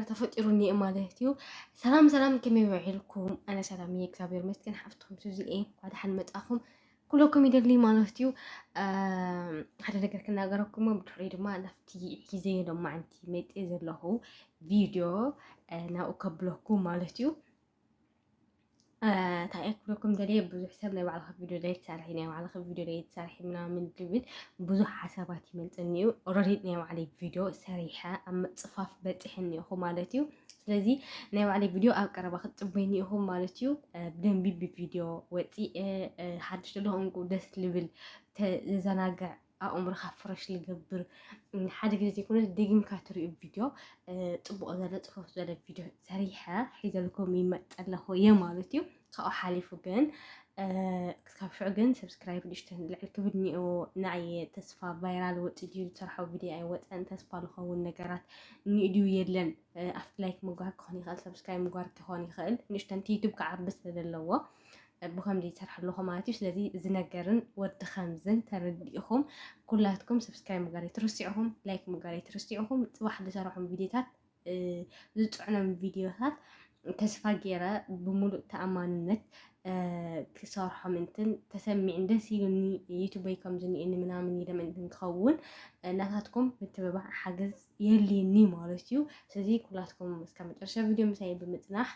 ተፈጢሩ እኒኤ ማለት እዩ። ሰላም ሰላም ከመይ ውዒልኩም? ኣነ ሰላም እየ እግዚኣብሔር ይመስገን። ሓፍትኩም ሱዚ እየ እንኳ ደሓን መጻኹም ኩለኩም ይደሊ ማለት እዩ። ሓደ ነገር ክናገረኩም ብድሕሪ ድማ ናብቲ ሒዘ ሎማዓንቲ መጤ ዘለኹ ቪድዮ ናብኡ ከብለኩ ማለት እዩ። እንታይ እየ ክብለኩም ደልየ ብዙሕ ሰብ ናይ ባዕልኻ ቪድዮ ደይ ትሰርሒ ናይ ባዕልኻ ቪድዮ ደይ ትሰርሒ ምናምን ዝብል ብዙሕ ሓሳባት ይመልፅኒ እዩ ኦልሬዲ ናይ ባዕለይ ቪድዮ ሰሪሐ ኣብ ምፅፋፍ በፂሐኒ እኹ ማለት እዩ ስለዚ ናይ ባዕለይ ቪድዮ ኣብ ቀረባ ክትፅበይኒ ኢኹም ማለት እዩ ብደንቢ ብቪድዮ ወፂ ሓድሽ ዘለኹም ደስ ልብል ተዘናግዕ ኣእምሮኻ ፍረሽ ልገብር ሓደ ግዜ ዘይኮነ ደጊምካ ትሪኡ ቪድዮ ፅቡቅ ዘለ ፅፈፍ ዘለ ቪድዮ ሰሪሐ ሒዘልኩም ይመፅ ኣለኹ እየ ማለት እዩ ካብኡ ሓሊፉ ግን ክሳብ ሽዑ ግን ሰብስክራይብ ንእሽተን ልዕል ክብል እኒኦ ንኣየ ተስፋ ቫይራል ወፅ ድዩ ዝሰርሖ ቪድዮ ኣይወፀን ተስፋ ዝኸውን ነገራት እኒኡ ድዩ የለን ኣብቲ ላይክ ምግባር ክኾን ይኽእል ሰብስክራይብ ምግባር ክኾን ይኽእል ንእሽተን ዩቱብ ክዓቢ ስለ ዘለዎ ብከምዚ ይሰርሕ ኣለኹ ማለት እዩ ስለዚ እዚ ነገርን ወዲ ከምዝን ተረዲእኹም ኩላትኩም ሰብስክራይብ ምግባር ኣይትርስዕኹም ላይክ ምግባር ኣይትርስዕኹም ፅባሕ ዝሰርሖም ቪዲዮታት ዝፅዕኖም ቪዲዮታት ተስፋ ገይረ ብምሉእ ተኣማንነት ክሰርሖም እንትን ተሰሚዕን ደስ ኢሉኒ ዩቱበይ ከምዝኒኤኒ ምናምን ኢለ ምእንትን ክኸውን ናታትኩም ምትብባዕ ሓገዝ የልኒ ማለት እዩ ስለዚ ኩላትኩም እስካ መጨረሻ ቪድዮ ምሳይ ብምፅናሕ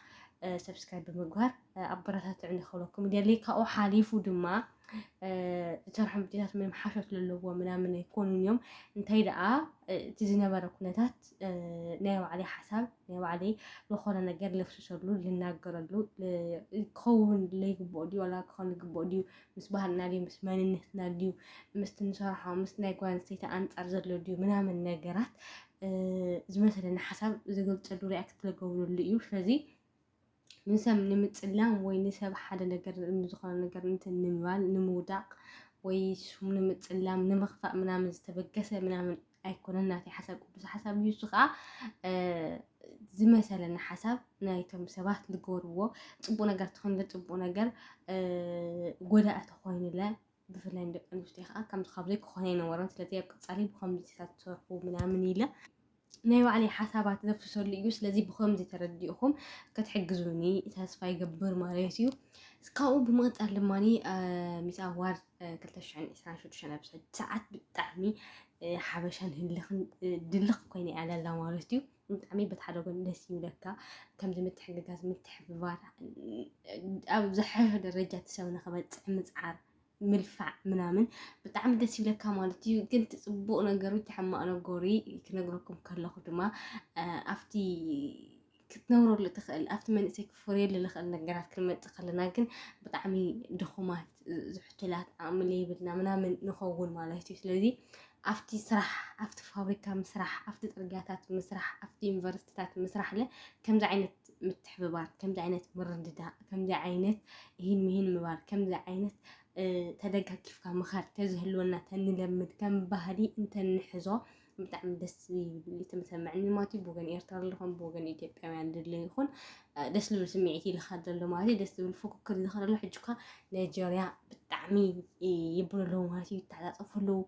ሰብስክራይብ ብምግባር ኣበረታትዕ ንክብለኩም ደሊ ካብኡ ሓሊፉ ድማ ዝሰርሖም ቪድዮታት ምንም ሓሾት ዘለዎ ምናምን ኣይኮኑን እዮም እንታይ ደኣ እቲ ዝነበረ ኩነታት ናይ ባዕለይ ሓሳብ ናይ ባዕለይ ዝኾነ ነገር ልፍስሰሉ ልናገረሉ ክኸውን ለይግብኦ ድዩ ዋላ ክኸውን ዝግብኦ ድዩ ምስ ባህልና ድዩ ምስ መንነትና ድዩ ምስቲ ንሰርሖ ምስ ናይ ጓል ኣንስተይቲ ኣንጻር ዘሎ ድዩ ምናምን ነገራት ዝመሰለኒ ሓሳብ ዝገልጸሉ ሪያክት ዝገብረሉ እዩ ስለዚ ንሰብ ንምጽላም ወይ ንሰብ ሓደ ነገር ዝኾነ ነገር እንትን ንምባል ንምውዳቕ ወይ ስም ንምጽላም ንምኽፋእ ምናምን ዝተበገሰ ምናምን ኣይኮነን ናተይ ሓሳብ ቅዱስ ሓሳብ እዩ። እሱ ከዓ ዝመሰለኒ ሓሳብ ናይቶም ሰባት ዝገበርዎ ፅቡቅ ነገር ትኾይንለ ፅቡቅ ነገር ጎዳኢ ተኾይንለ ብፍላይ ንደቂ ኣንስትዮ ከዓ ከምዚ ካብዘይ ክኾነ ይነበሮን ስለዚ ኣብ ቀፃሊ ብከምዚ ትሰርሑ ምናምን ኢለ ናይ ባዕለይ ሓሳባት ዘፍሰሉ እዩ ስለዚ ብከምዚ ተረዲእኹም ክትሕግዙኒ ተስፋ ይገብር ማለት እዩ ካብኡ ብምቕፃል ድማ ሚስ ኣዋርድ ክልተ ሽሕን ዕስራን ሽዱሽተን ኣብ ዝሕጂ ሰዓት ብጣዕሚ ሓበሻን ህልኽን ድልኽ ኮይነ እያ ዘላ ማለት እዩ። ብጣዕሚ በቲ ሓደ ጎኒ ደስ ይብለካ ከምዚ ምትሕግጋዝ ምትሕብባር ኣብ ዝሓሸ ደረጃ እቲ ሰብ ንክበፅሕ ምፅዓር ምልፋዕ ምናምን ብጣዕሚ ደስ ይብለካ ማለት እዩ። ግን እቲ ፅቡቅ ነገሩ እቲ ሕማቅ ነገሩ ክነግረኩም ከለኹ ድማ ኣብቲ ክትነብረሉ ትኽእል ኣብቲ መንእሰይ ክፈርየሉ ዝኽእል ነገራት ክንመፅእ ከለና ግን ብጣዕሚ ድኹማት ዝሕቱላት ዓቕሚ ዘይብልና ምናምን ንኸውን ማለት እዩ ስለዚ ኣብቲ ስራሕ ኣብቲ ፋብሪካ ምስራሕ ኣብቲ ፅርግያታት ምስራሕ ኣብቲ ዩኒቨርሲቲታት ምስራሕ ለ ከምዚ ዓይነት ምትሕብባር ከምዚ ዓይነት ምርድዳእ ከምዚ ዓይነት ይህን ምሂን ምባል ከምዚ ዓይነት ተደጋጊፍካ ምኻድ ተዝህልወና ተንለምድ ከም ባህሊ እንተንሕዞ ብጣዕሚ ደስ ዝብል ተመሰማዕኒ ማለት እዩ ብወገን ኤርትራ ኣለኹም ብወገን ኢትዮጵያውያን ድለ ይኹን ደስ ዝብል ስምዒት ይልካ ዘሎ ማለት እዩ ደስ ዝብል ፉክክር ይልካ ዘሎ ሕጂ ኳ ናይጀርያ ብጣዕሚ ይብሉ ኣለዉ ማለት እዩ ይተዓፃፀፉ ኣለዉ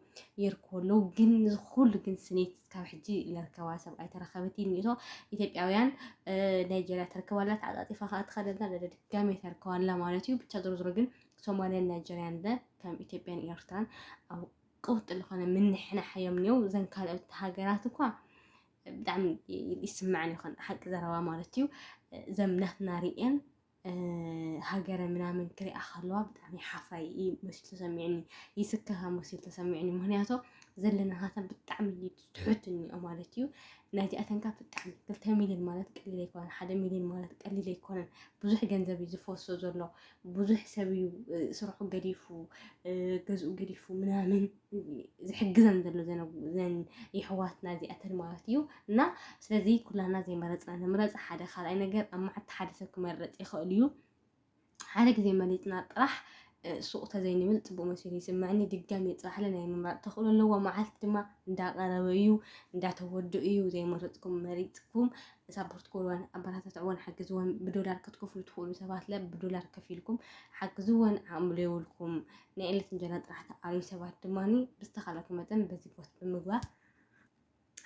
የርክቡ ኣለዉ ግን ዝኩሉ ግን ስኒት ካብ ሕጂ ለርከባ ሰብ ኣይተረከበት እዩ እኒቶ ኢትዮጵያውያን ናይጀርያ ተርከባላ ተዓፃፂፋ ከዓ ትኸደላ ድጋሜ ተርከባላ ማለት እዩ ብቻ ዞሮ ዞሮ ግን ሶማልያን ናይጀርያን ከም ኢትዮጵያን ኤርትራን ቀውጢ ዝኾነ ምንሕናሕ እዮም እኒው እዘን ካልኦት ሃገራት እኳ ብጣዕሚ ይስማዕን ይኾን ሓቂ ዘረባ ማለት እዩ እዘም ናትና ርእን ሃገረ ምናምን ክሪኣ ከለዋ ብጣዕሚ ሓፋይ መሲሉ ተሰሚዕኒ ይስከፋ መሲሉ ተሰሚዕኒ ምክንያቱ ዘለና ሃተን ብጣዕሚ ትሑት እኒኦ ማለት እዩ ናይዚኣተን ካብ ብጣዕሚ ክልተ ሚሊዮን ማለት ቀሊል ኣይኮነን ሓደ ሚሊዮን ማለት ቀሊል ኣይኮነን ብዙሕ ገንዘብ እዩ ዝፈሶ ዘሎ ብዙሕ ሰብ እዩ ስርሑ ገዲፉ ገዝኡ ገዲፉ ምናምን ዝሕግዘን ዘሎ ዘን የሕዋትና እዚኣተን ማለት እዩ እና ስለዚ ኩላና ዘይመረፅና ንምረፅ ሓደ ካልኣይ ነገር ኣብ መዓልቲ ሓደ ሰብ ክመረፅ ይኽእል እዩ ሓደ ግዜ መሊጥና ጥራሕ ሱቕ ተዘይንብል ጽቡቕ መሲሉ ይስምዐኒ ድጋሚ ይጽባሕለ ናይ ምምራጽ ተኽእሎ ኣለዎ መዓልቲ ድማ እንዳቐረበ እዩ እንዳተወዱ እዩ ዘይመረጽኩም መሪጽኩም ሳፖርት ክብልወን ኣበረታትዕወን ሓግዝወን ብዶላር ክትከፍሉ ትኽእሉ ሰባት ለ ብዶላር ከፊልኩም ሓግዝወን ዓቕሚ ዘይብልኩም ናይ ዕለት እንጀራ ጥራሕ ተቓርዩ ሰባት ድማ ብዝተኻለኩም መጠን በዚ ቦት ብምግባር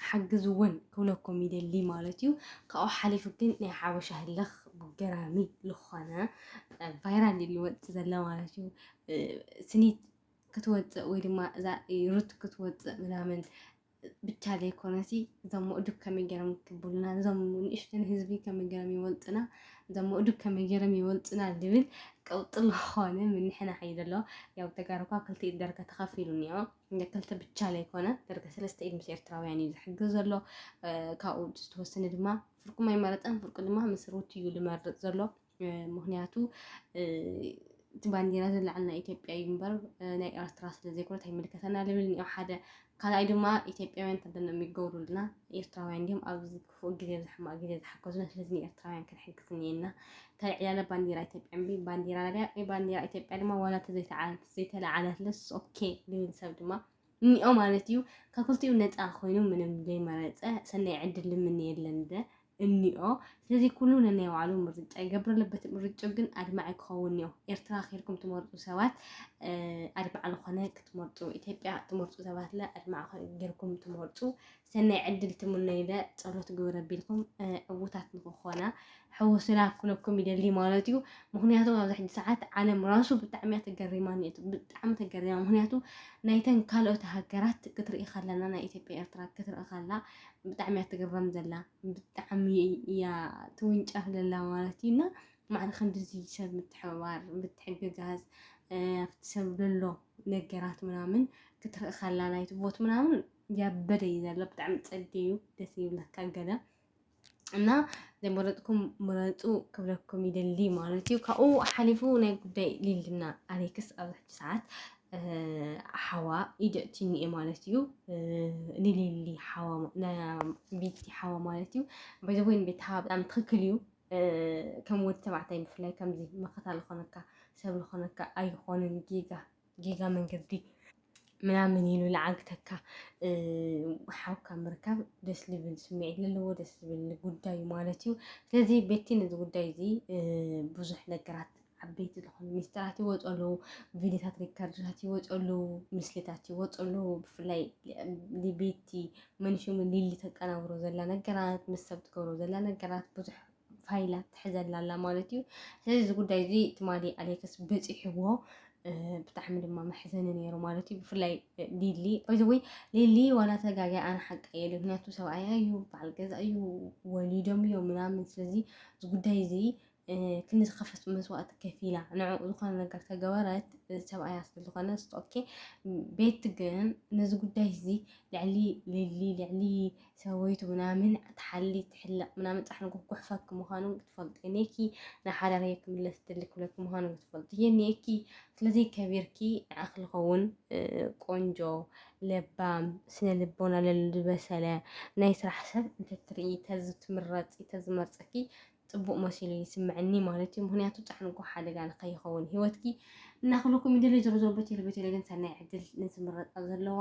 ሓግዝ ውን ክብለኩም ይደሊ ማለት እዩ ካብኡ ሓሊፉ ግን ናይ ሓበሻ ህልኽ ገራሚ ዝኾነ ቫይራል እዩ ዝወፅእ ዘሎ ማለት እዩ ስኒት ክትወፅእ ወይ ድማ እዛ ሩት ክትወፅእ ምናምን ብቻ ዘይኮነሲ እዞም ምእዱብ ከመይ ገይሮም ክብሉና እዞም ንእሽተን ህዝቢ ከመይ ገይሮም ይወልጡና እዞም ምእዱብ ከመይ ገይሮም ይወልጡና ዝብል ቀውጢ ዝኾነ ምንሕና ሓይ ዘሎ ያው ተጋርኳ ክልቲኡ ደርጋ ተኸፊሉ እኒኦ እንደ ክልተ ብቻ ዘይኮነ ደርገ ሰለስተ ኢድ ምስ ኤርትራውያን እዩ ዝሕግዝ ዘሎ ካብኡ ዝተወሰነ ድማ ፍርቁም ኣይመረጠን ፍርቁ ድማ ምስ ሩት እዩ ዝመርጥ ዘሎ ምክንያቱ እቲ ባንዲራ ዘለዓል ናይ ኢትዮጵያ እዩ እምበር ናይ ኤርትራ ስለ ዘይኮነት ኣይምልከተና ልብል እኒኦ ሓደ ካልኣይ ድማ ኢትዮጵያውያን ተደነም ይገብሩልና ኤርትራውያን ድም ኣብዚ ክፉእ ግዜ ብ ሕማቅ ግዜ ዝሓገዙና ስለዚ ንኤርትራውያን ክንሕግዝ እኒኤና ታይ ዕላለ ባንዴራ ኢትዮጵያ እምቢ ባንዴራ ላብያ ወይ ባንዴራ ኢትዮጵያ ድማ ዋላ ተዘይተዓለት ዘይተላዓለትለስ ኦኬ ልብል ሰብ ድማ እኒኦ ማለት እዩ ካብ ክልቲኡ ነፃ ኮይኑ ምንም ዘይመረፀ ሰናይ ዕድል ልምንየለን ደ እኒኦ ስለዚ ኩሉ ነናይ ባዕሉ ምርጫ ይገብረለ በቲ ምርጭ ግን ኣድማዒ ክኸውን እኒኦ ኤርትራ ኬድኩም ትመርፁ ሰባት ኣድማዕ ዝኾነ ክትመርፁ ኢትዮጵያ ትመርፁ ሰባት ለ ኣድማዕ ጌርኩም ትመርፁ ሰናይ ዕድል ትምነዩለ ጸሎት ግብር ኣቢልኩም ዕውታት ንክኾና ሕወሱና ክነኩም ይደሊ ማለት እዩ ምክንያቱ ኣብዚ ሕጂ ሰዓት ዓለም ራሱ ብጣዕሚ እያ ተገሪማኒ እቱ ብጣዕሚ ተገሪማ ምክንያቱ ናይተን ካልኦት ሃገራት ክትርኢ ከለና ናይ ኢትዮጵያ ኤርትራ ክትርኢ ከላ ብጣዕሚ እያ ትግረም ዘላ ብጣዕሚ እያ ትውንጨፍ ዘላ ማለት እዩ እና ማዕሪ ከምዚ ሰብ ምትሕብባር ምትሕግጋዝ ኣብቲ ሰብ ዘሎ ነገራት ምናምን ክትርኢ ከላ ናይቲ ቦት ምናምን ያበደ እዩ ዘሎ ብጣዕሚ ጸዴ እዩ ደስ ይብለካ ገለ እና ዘይመረጥኩም ምረጡ ክብለኩም ይደሊ ማለት እዩ ካብኡ ሓሊፉ ናይ ጉዳይ ሊልና ኣሌክስ ኣብዚ ሕጂ ሰዓት ሓዋ ኢደእትኒ እየ ማለት እዩ ንሊሊ ቤቲ ሓዋ ማለት እዩ በዘወይን ቤት ሓዋ ብጣዕሚ ትክክል እዩ ከም ወዲ ተባዕታይ ብፍላይ ከምዚ መኸታ ዝኾነካ ሰብ ዝኾነካ ኣይኾንን ጌጋ ጌጋ መንገዲ ምናምን ኢሉ ልዓግተካ ሓውካ ምርካብ ደስ ልብል ስምዒት ዘለዎ ደስ ዝብል ጉዳይ ማለት እዩ ስለዚ ቤቲ ነዚ ጉዳይ እዚ ብዙሕ ነገራት ዓበይቲ ዝኾኑ ሚስጥራት ይወፁ ኣለዉ ቪዲዮታት ሪከርድታት ይወፁ ኣለዉ ምስልታት ይወፁ ኣለዉ ብፍላይ ቤቲ መንሽሙ ሊሊ ተቀናብሮ ዘላ ነገራት ምስ ሰብ ትገብሮ ዘላ ነገራት ብዙሕ ፋይላ ትሕዘላ ኣላ ማለት እዩ ስለዚ እዚ ጉዳይ እዚ ትማሊ ኣሌክስ በፂሕዎ ብጣዕሚ ድማ መሕዘኒ ነይሩ ማለት እዩ ብፍላይ ሊሊ ወይዘወይ ሊሊ ዋላ ተጋጊያ ኣነ ሓቂ የለ ምክንያቱ ሰብኣያ እዩ በዓል ገዛ እዩ ወሊዶም እዮም ምናምን ስለዚ እዚ ጉዳይ እዚ ክንዲ ዝኸፈት መስዋእቲ ከፊላ ንዕኡ ዝኾነ ነገር ተገበረት ሰብኣያ ስለዝኾነ ኦኬ ቤት ግን ነዚ ጉዳይ እዚ ልዕሊ ሊሊ ልዕሊ ሰበይቱ ምናምን ትሓሊ ትሕለቕ ምናምን ጻሕሊ ክጉሕፈኪ ምዃኑ ክትፈልጡ የኔኪ ንሓዳር ክምለስ ትደሊ ክብለኪ ምዃኑ ክትፈልጡ የኔኪ ስለዚ ከቢርኪ ንዓኺ ዝኸውን ቆንጆ ለባም ስነ ልቦና ለልበሰለ ናይ ስራሕ ሰብ እንተትርኢ ተዚ ትምረፂ ተዝመርፀኪ ፅቡቅ መሲሉ ይስምዐኒ ማለት እዩ ምክንያቱ ጫሕንጎ ሓደጋ ንከይኸውን ሂወትኪ እናክልኩም ይደለ ዞሮ ዞሮ በቴለ በቴለ ግን ሰናይ ዕድል ንዝምረጣ ዘለዋ